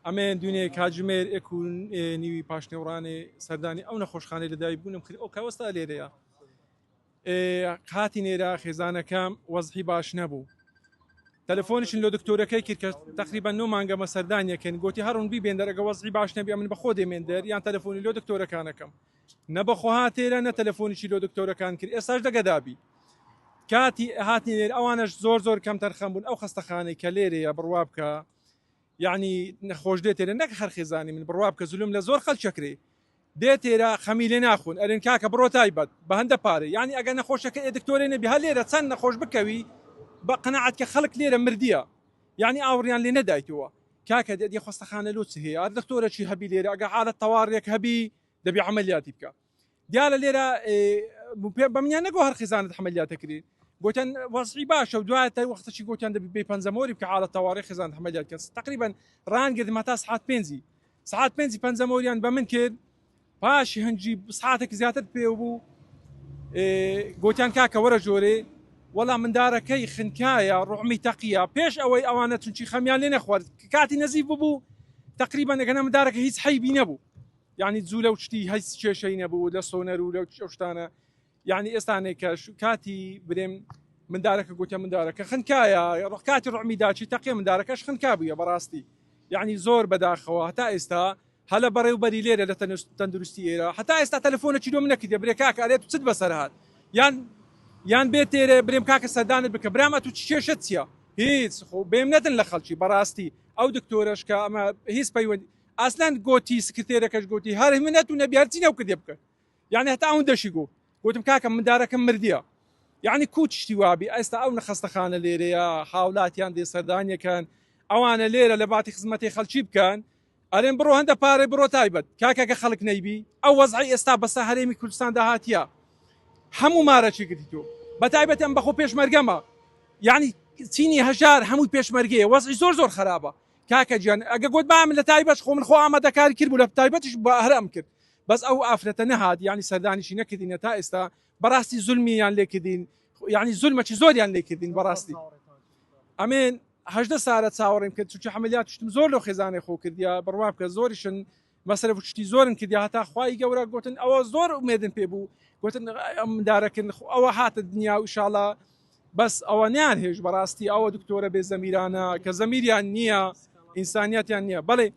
ئەمەێن دونێ کاتژمێر ئێک و نیوی پاشنێوڕانێ سەردانی ئەو نەخۆشخانەی لەدای بوونم خری ئەو کاوەستا لێرەیە قاتی نێرا خێزانەکەم وەزحی باش نەبوو تەلەفۆنیشن لە دکتۆرەکەی کرد کە تقریبا نۆ مانگەمە سەردانیەکەن گوتی هەڕون بی بێندەرەگە وەزحی باش نەبی من بەخۆ دێمێندەر یان تەلەفۆنی لۆ دکتۆرەکانەکەم نە بەخۆ هاتێرە نە تەلەفۆنیی لۆ دکتۆرەکان کرد ئێساش دەگەدابی کاتی هاتنی لێر ئەوانش زۆر زۆر کەم تەرخەم بوون ئەو خستەخانەی کە لێرەیە بڕوا بکە یەعنی نەخۆش دێ تێرە نەک هەر خێزانی من بڕوا بکە زولم لە زۆر خەلک ئەکرێ دێ تێرە خەمی لێ ناخۆن ئەرێن کاکە بڕۆ تایبەت بە هەندە پارە یەعنی ئەگە نەخۆشەکە ئێ دکتۆرێ نەبی هەر لێرە چەند نەخۆش بکەوی بە قەناعەت کە خەلک لێرە مردیە یەعنی ئاوڕیان لێ نەدایتەوە کاکە دێ خەستەخانە لۆ چ هەیە ئەر دکتۆرە چی هەبی لێرە ئەگە حالەت تەواڕیەک هەبی دەبی عەمەلیاتی بکە دیارە لێرە پێ بەمنیان نەگۆ هەر خزانت حملیاتەکرێ گوتن وەزعی باشە و دوای تا وەختەی گوتیان دەبی بێ پەنجەمۆری کە حاڵە تەواڕی خزان حملیات کەس تقریبا ڕانگرد مەتا سعات پێنجی سعات پێنجی پەنجەمۆریان بە من کرد پاش هەنجی سعاتێک زیاتر پێ بوو گوتیان کاکە وەرە جۆرێ وەڵا مندارەکەی خنکایە ڕحمی تەقیە پێش ئەوەی ئەوانە چونچی خەمیان لێ نەخوارد کاتی نزیف ببوو تقریبا ئەگەنە مندارەکە هیچ حیبی نەبوو یانی جولە و شتی هەیچ کێشەی نەبوو لە سۆنەر و لە ئەو شتانە یعنی ئێستانێک کە کاتی برێم مندارەکە گوتە مندارەکە خنکایە ڕقاتی ڕمی داچی تەقێ مندارەکەش خنکا بووە بەڕاستی یعنی زۆر بەداخەوە هەتا ئێستا هەلە بەڕێوبەری لێرە لە تەندروستی ئێرە هەتا ئێستا تەلفۆنە چیرۆ منە کردێ برێ کاکە ئەرێت چت بەسەر هاات یان یان بێت تێرە برێم کاکە سەردانت بکە برامە تو کێشت چیە هیچ خۆ بێم نەدن لە خەڵکی بەڕاستی ئەو دکتۆرەشکە ئەمە هیچ پەیوەندی ئاسنان گۆتی، سکرتێرەکەش گۆتی، هەر من نەتوو نەبی هەرچی نەو کردێ بکەن. یەعنی هەتا ئەوندەشی گۆ. گۆتم کاکە مندارەکەم مردیە. یەعنی کوو چشتی وابی ئێستا ئەو نخەستەخانە لێرەیە، هاولاتیان دێ سەردانیەکەن، ئەوانە لێرە لە باتی خزمەتێ خەلکی بکەن، ئەرێن بڕۆ هەندە پارەی بڕۆ تایبەت. کاکە گە خەلک نەیبی، ئەو وەزعەی ئێستا بەسە هەرێمی کوردستاندا هاتیە، هەموو مارەچی گرتیتۆ. بە تایبەتی ئەم بەخۆ پێشمەرگەمە. یەعنی چینی هەژار هەمووی پێشمەرگەیە. وەزعی زۆر زۆر خەرابە. کاکە گیان ئەگە گۆت بام لە تایبەش خۆ من خۆ ئامادە کاری کرد بوو لە تایبەتیش با هەر ئەم کرد بەس ئەو ئافرەتە نەهات یانی سەردانیشی نەکردینە تا ئێستا بەڕاستی زولمی یان لێکردین یعنی زولمە چی زۆریان لێکردین بەڕاستی ئەمێن هەژدە سارە چاوەڕێم کرد چونکە حملیات شتم زۆر لەو خێزانێ خۆ کردیا بڕوا بکە زۆریشن مەسرەف شتی زۆرن کردیا هەتا خوای گەورە گوتن ئەوە زۆر ئومێدن پێ بوو گوتن ئەم دارەکن ئەوە هاتە دنیا و شاڵە بەس ئەوە نیان هێش بەڕاستی ئەوە دکتۆرە بێ زەمیرانە کە زەمیریان نییە ئینسانیتیان نییە بەڵێ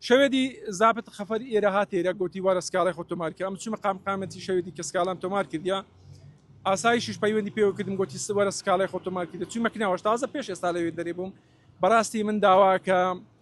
شەوێدی زابت خەفەر ئێرە هاتێرە گوتی وارە سکاڵی خۆ تۆمارکە ئەم چمە قامقامەتی شەوێدی کە سکاڵام تۆمار کردیا ئاسایشش پەیوەندی پێوە کردم گوتی سوەرە سکاڵی خۆ تۆمار کردە چی مەکناوەش تازە پێش ئێستا لەوێ دەرێ بووم بەڕاستی من داواکە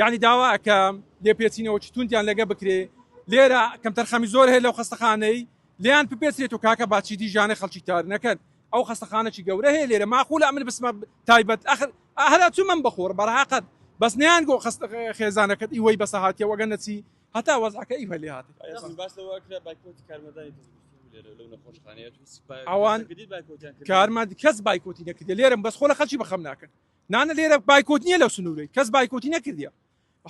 یەعنی داوا ئەکەم لێپێچینەوەکی توندیان لەگە بکرێ لێرە کەمتەرخەمی زۆر هەیە لەو خەستەخانەی لێیان بپێچرێت و کاکە باچیدی ژانەی خەڵکی تار نەکەن ئەو خەستەخانەکی گەورە هەیە لێرە ماقولە ئەمن بسمە تایبەت ئەخر ئەهرا چمم بخۆر بەڕاقەت بەس نیان گۆ خست خێزانەکەت ئیوەی بەسە هااتیە وەگە نەچی هەتا وەزعەکە ئی هەلی هاات ئەوان کارمان کەس بایکۆتی نەکردێ لێرم بەس خۆ لە خەچی بەخەم ناکەن نانە لێرە بایکۆت نیە لەو سنورەی کەس بایکۆتی نەکردیە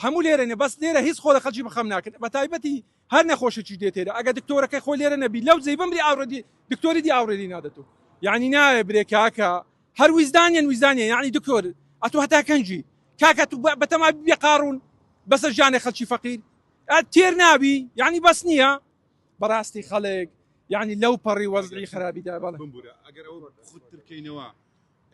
هەموو لێرەێ بەس لێرە هیچ خۆ لە خەلکی بخەم ناکرد بە تایبەتی هەر نەخۆشێکی دێتێرە ئەگە دکتۆرەکەی خۆ لێرە نەبی لەو جێ بمری ئاڕدی دکتۆری دی ئاورێری نادەتو یعنی ناوێ برێ کاکە هەر ویزدانیان ویزدانیان یعنی دکتۆر ئەتو هەتا کەنجی کاکە تو بەتەما بێ قاڕون بەسە ژیانێ خەلکی فەقیر تێر نابی یعنی بەس نییە بەڕاستی خەڵێک یعنی لەو پەڕی وەزعی خراپیدا بەڵێ خودترکەینەوە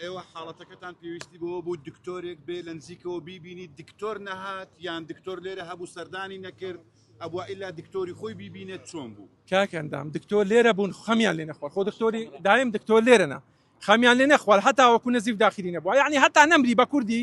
ئێوە حاڵەتەکەتان پێویستی بەوە بوو دکتۆرێک بێ لە نزیکەوە بیبینی دکتۆر نەهات یان دکتۆر لێرە هەبوو سەردانی نەکرد ئەبووە ئیلا دکتۆری خۆی بیبینێت چۆن بوو کاک ئەندام دکتۆر لێرە بوون خەمیان لێ نەخوار خۆ دکتۆری دایم دکتۆر لێرەنا خەمیان لێ نەخوار هەتا وەکو نەزیف داخلی نەبووە یعنی هەتا نەمری بە کوردی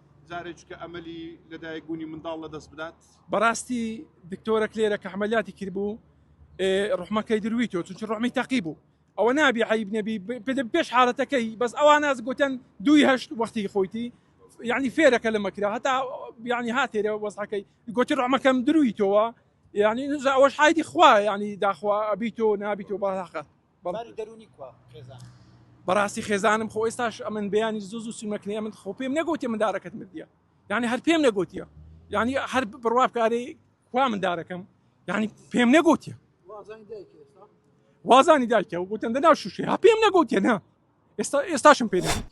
جارێچکە ئەمەلی لەدایک بوونی منداڵ لە دەست بدات بەڕاستی دکتۆرە کلێرە کەحمەلاتی کرد بوو ڕحمەکەی دروی تۆ چونچ ڕحمی تەقی بوو ئەوە نابی عیب نەبی پێش حالەتەکەی بەس ئەوان ناز گوتن دوی هەشت وەختی خۆیتی یعنی فێرەکە لە مەکرا هەتا یعنی هاتێرە وەزحەکەی گوتی ڕحمەکەم دروی تۆوە یعنی نزا ئەوەش حایدی خوا یعنی داخوا ئەبی تۆ نابی تۆ بەڵاقە باری دەرونی کوا خێزان. بەڕاستی خێزانم خۆ ئێستاش ئەمن بەیانی زوو زوو سومەکنی ئەمن خۆ پێم نەگوتێ مندارەکەت مردیە یعنی هەر پێم نەگوتیە یعنی هەر بڕوا بکارێ کوا مندارەکەم یعنی پێم نەگوتیە وازانی دایکە و گوتن دەنا شوشێ ها پێم نەگوتیە نا ئێستا ئێستاشم پێ نەگوت